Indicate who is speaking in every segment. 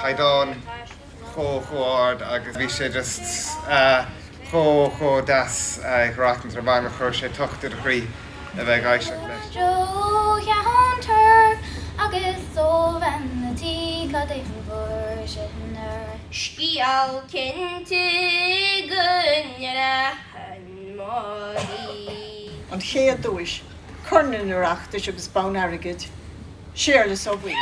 Speaker 1: caighdeán chomh chomh ard agus bhí sé just chomh chomh deas ag Rotten Tomatoes chuir sé tocht ar do chroí a bheith ag éisteacht leis. Joe Ceanntar agus Eoghan na Tiocfaidh an bhur sinn ar. Scéal cinnte go ndreachann Máirín. An Chéad Duais, Corn an Oireachtais agus Bonn Airgid. Séarlas Ó Baoill.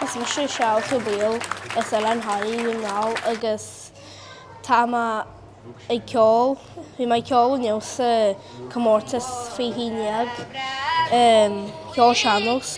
Speaker 1: Is mise Séarlas Ó Baoill as Oileán Thoraí, Dún na nGall, agus tá mé ag ceol. Bhí mé ag ceol inniu sa comórtas faoi 11, ceol sean-nós.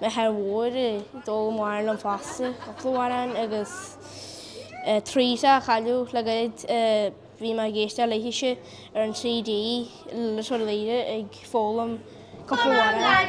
Speaker 1: Máthair mhór a d'fhoghlaim dom fosta cúpla amhrán agus trí fheá a cailleadh le gairid. Bhí mé ag éisteacht léithese ar an CD Litir Laoghaire ag foghlaim cúpla amhrán.